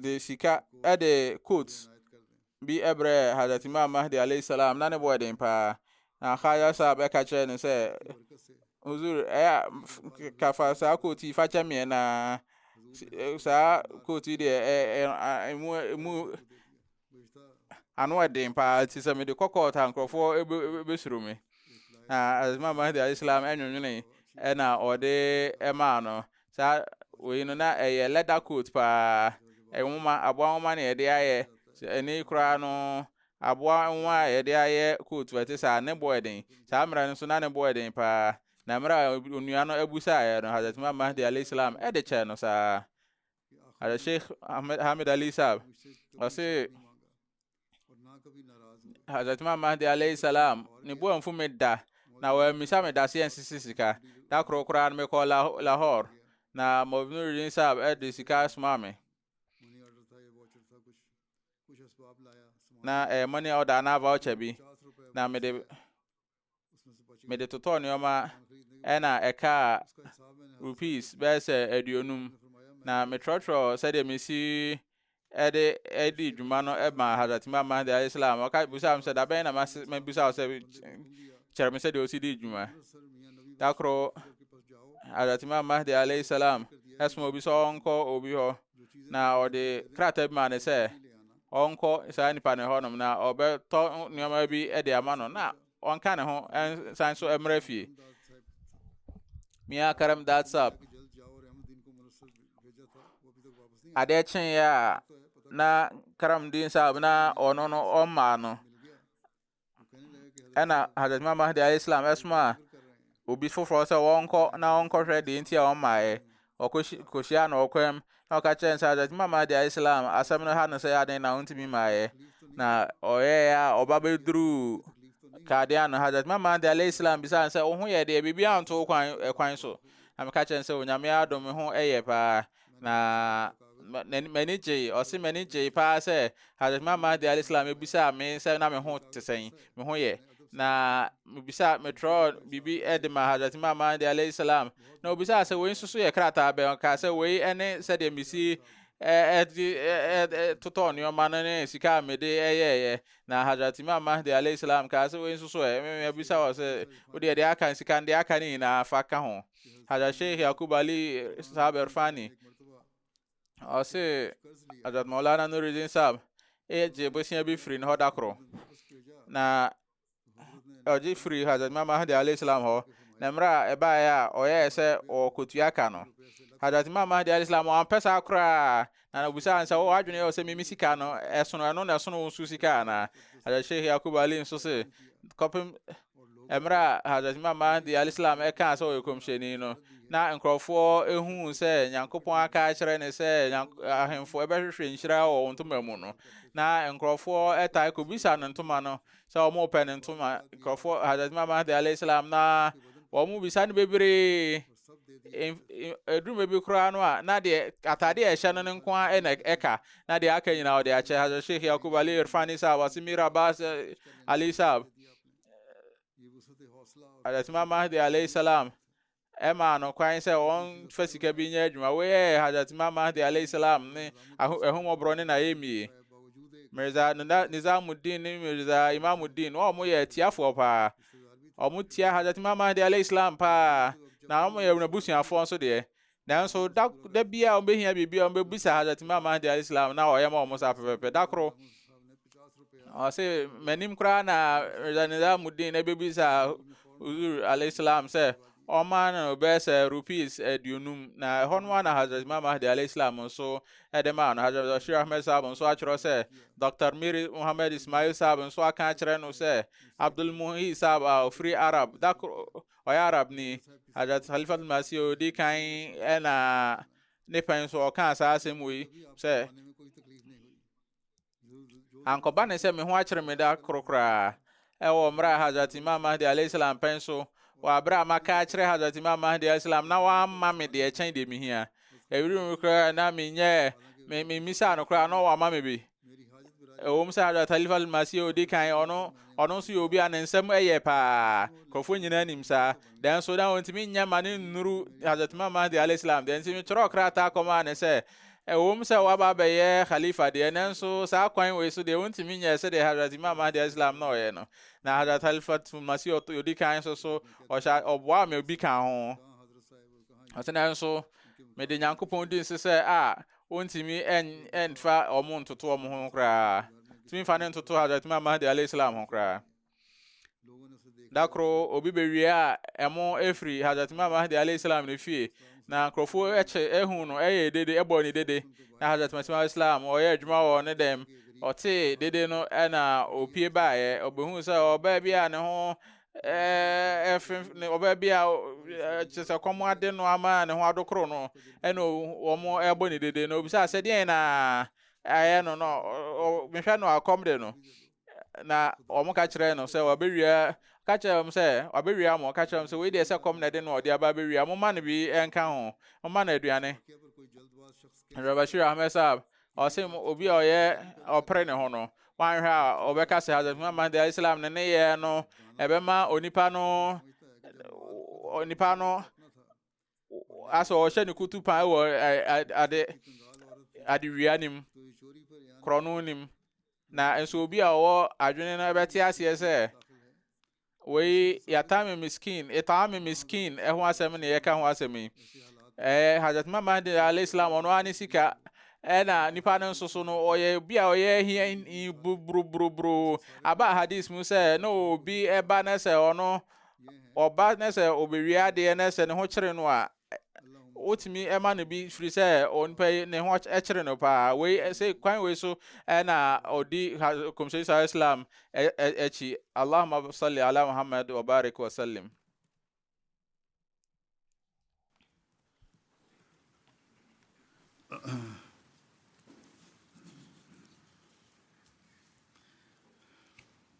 de sika de coat bi brɛ Hazrat Imam Mahdi alayhi salam na ne bo den paa na Khaja Saab ɛka kyerɛ no sɛ huzur ɛyɛ kafa saa coat yi fa kyɛ meɛ na saa coat yi deɛ ɛmu ɛmu Ano yɛ den paa nti sɛ mede kɔ court a nkurɔfoɔ bɛsuro me. Na Imam Mahdi alayhi salam nwonwonee ɛna ɔde maa no. Saa wei no na ɛyɛ leather coat paa. Nwoma, aboa nwoma na yɛde ayɛ. Ɛne yi koraa no aboa nwoma a yɛde ayɛ coat ɛte saa ne boɔ den. Saa mmerɛ no nso na ne boɔ den paa. Na mmerɛ a onua no abusaeɛ no Hazrat Imam Mahdi alayhi salam ɛde kyɛɛ no saa. Ada Sheikh Hamid Ali Saab, ɔse Hazrat Imam Mahdi alayhi salam ne boa mfu me da na wɔammisa me daseɛ nsisi sika da koro koraa no mekɔ Lahore na Mawlid Nuruddin Saab de sika soma me na ɛyɛ money order anaa voucher bi na mede Mede totɔɔ nneɛma na ɛkaa rupees bɛyɛ sɛ aduonum, na metrɔtrɔɔ sɛdeɛ mesi ɛde ɛdi dwuma no ɛma Hazrat Imam Mahdi alayhi salam. Ɔka busaa me sɛ da bɛn na mabusa wo sɛ kyerɛ me sɛdeɛ ɔsi di dwuma. Da koro Hazrat Imam Mahdi alayhi salam ɛsoma obi sɛ ɔnkɔ obi hɔ na ɔde krataa bi maa ne sɛ ɔnkɔ saa nipa no hɔnom na ɔbɛtɔ nneɛma bi de ama no na ɔnka ne ho nsan so mmra fie mia karam datsap adeɛ kyeeɛ a na karam din sab na ɔno no ɔmmaa no ɛna hadrat imam mahdi alayhi salam ɛsomaa obi foforɔ sɛ wɔnkɔ na wɔnkɔhwɛ deɛ nti a wɔmmaeɛ ɔkɔhyia na ɔkɔm na ɔka kyerɛ no sɛ hadrat imam mahdi alayhi salam asɛm no ha no sɛ aden na wontumi mmaeɛ na ɔyɛɛ a ɔba bɛduruu kadeɛ ano hadrat imam mahdi alayhi salam bisaa no sɛ wo ho yɛ deɛ biribi anto kwan ɛkwan so na meka kyerɛ no sɛ onyame adom me ho ɛyɛ paa na m'ani gyei ɔse m'ani gyei paa sɛ Hazrat Imam Mahdi alayhi salam ebisaa me sɛ na me ho te sɛn me ho yɛ na mebisa metrɔ biribi de ma Hazrat Imam Mahdi alayhi salam na obisaa sɛ wei nso so yɛ krataa bɛn ɔkaa sɛ wei ne sɛdeɛ mesi ɛde totɔ nneɛma no ne sika a mede ɛyɛɛyɛ na Hazrat Imam Mahdi alayhi salam kaa sɛ wei nso so ɛ mebisa wɔ sɛ wodeɛ deɛ aka sika no deɛ aka ne nyinaa fa ka ho Hazrat Sheikh Yaqub Ali Sahab Irfani ɔse Hazrat Maulana Nuruddin Sahab egye bosia bi firi ne hɔ da koro na ɔgye firi Hazrat Imam Mahdi alayhi salam hɔ na mmerɛ a ɛbaeɛ a ɔyɛɛ sɛ ɔkɔtua ka no Hazrat Imam Mahdi alayhi salam ɔampɛ saa koraa Na obisaa no sɛ, Wo adwene yɛ wo sɛ me me sika no ɛsono ɛno na ɛsono wo nso sika anaa? Hazrat Sheikh Yaqub Ali nso se, kɔpem mmerɛ a Hazrat Imam Mahdi al-Islam ɛkaa sɛ ɔyɛ kɔmhyɛni no, na nkurɔfoɔ ɛhuu sɛ Nyankopɔn aka akyerɛ ne sɛ ahemfo ɛbɛhwehwɛ nhyira wɔ wɔn ntoma mu no, na nkurɔfoɔ ɛtae kɔbisa no ntoma no sɛ wɔn repɛ ne ntoma, nkurɔfoɔ, Hazrat Imam Mahdi alayhi salam, na wɔn bisa no bebree. Ɛduru mmerɛ bi koraa no a, na deɛ ataadeɛ a ɛhyɛ no no nko ara na ɛka, na deɛ aka nyinaa ɔde akyɛ. Hazrat Sheikh Yaqub Ali Irfani Saab, ɔse Mir Abbas eh, Ali Saab, Hazrat Imam Mahdi alayhi salam, ɛmaa no kwan sɛ wɔn fa sika bi nyɛ adwuma. Woyɛ Hazrat Imam Mahdi alayhi salam ne ahomɔborɔ ne n'ayɛmie. Mirza Nizamuddin ne Mirza Imamuddin, wɔn yɛ atiafoɔ paa. Wɔn tia Hazrat Imam Mahdi alayhi salam paa, na wɔn yɛ wɔn abusuafoɔ nso deɛ. Nanso da da bi a wɔbɛhia biribi a wɔbɛbisa Hazrat Imam Mahdi alayhi salam na ɔyɛ ma wɔn saa pɛpɛpɛ. Da koro, ɔse m'anim koraa na Mirza Nizamuddin na ɛbɛbisa Huzur alayhi salam sɛ ɔma no bɛyɛ sɛ rupees aduonum na ɛhɔ no na Hazrat Imam Mahdi alayhi salam nso de maa no. Hazrat Bashir Ahmed Saab nso atwerɛ sɛ Dr. Mir Muhammad Ismail Saab nso aka akyerɛ no sɛ Abdul Muhyi Saab a ɔfiri Arab, da koro ɔyɛ Arabni, Hajjat Khalifatul Masih ɔdi kan na ne pɛn so ɔkaa saa asɛm wei sɛ ankɔba ne sɛ me ho akyere me da koro koraa ɛwɔ mmerɛ a Hajjat Imam Mahdi alayhi salam pɛn so wɔ aberɛ a maka akyerɛ Hajjat Imam Mahdi alayhi salam na wamma me deɛ ɛkyɛn deɛ mehia ɛwiri mu koraa na menyɛ memisaa no koraa na wama me bi Ɛwom sɛ Hadrat Halif al-Masih a odi kan ɔno ɔno nso yɛ obi a ne nsɛm yɛ paa, nkurɔfoɔ nyinaa nim saa, nanso na ɔntumi nyɛ ma ne nnuru Hadrat Imam Mahdi alayhi salam deɛ nti metwerɛɛ krataa kɔmaa ne sɛ ɛwom sɛ waba abɛyɛ Khalifa deɛ nanso saa kwan wei so deɛ ɔntumi nyɛ sɛdeɛ Hadrat Imam Mahdi alayhi salam na ɔyɛ no na Hadrat Halif al-Masih ɔdi kan nso so ɔhyɛ ɔboa me obi ka ho ɔsɛ nanso mede Nyankopɔn di nse sɛ a Wontumi nfa wɔn ntoto wɔn ho koraa. Tumi nfa ne ntoto Hazrat Imam Mahdi alayhi salam ho koraa. Da koro obi bewie a ɛmo efiri Hazrat Imam Mahdi alayhi salam ne fie na nkurɔfoɔ ɛkyɛ ehu no ɛyɛ dede ɛbɔ ne dede na Hazrat Masih alayhi salam ɔyɛ adwuma wɔ ne dɛm ɔtee dede no ɛna opie baeɛ ɔbɛhu sɛ ɔbaa bi a ne ho ɛɛ ɛfe ne ɔbaa bi a kyerɛ sɛ kɔm ade no ama ne ho adokoro no ɛna wɔn ɛbɔ ne dede na obisa sɛ deɛn na ayɛ no na mehwɛ no akɔm de no na wɔn ka kyerɛ no sɛ wabɛwia ka kyerɛ wɔn sɛ wabɛwia mo ka kyerɛ wɔn sɛ wei deɛ sɛ kɔm na ɛde no ɔde aba abɛwia mo ma no bi ɛnka ho mo ma no aduane rabashir ahmed saab Ɔse obi a ɔyɛ ɔpere ne ho no, wanhwɛ a ɔbɛka sɛ Hazrat Muhammad Mahdi alayhi salam ne ne yɛ no ɛbɛma onipa no onipa no asɛ ɔhyɛ ne kutu paa wɔ ade adewia nim korɔno nim na nso obi a ɔwɔ adwene no ɛbɛte aseɛ sɛ Wei Yatami Miskin, It'ami Miskin, ɛho asɛm ne yɛka ho asɛm yi. Ɛɛ Hazrat Imam Mahdi alayhi salam ɔno ara ne sika ɛna nipa no nso so no ɔyɛ obi a ɔyɛ hia buruburuburu aba hadis mu sɛ na obi ɛba ne sɛ ɔno ɔba ne sɛ ɔbɛwie adeɛ ne sɛ ne ho kyere no a wotumi ma no bi firi sɛ onipa yi ne ho kyere no paa wei sɛ kwan wei so ɛna ɔdi kɔmhyɛni sa islam akyi allahuma salli ala muhammad wa barik wa sallim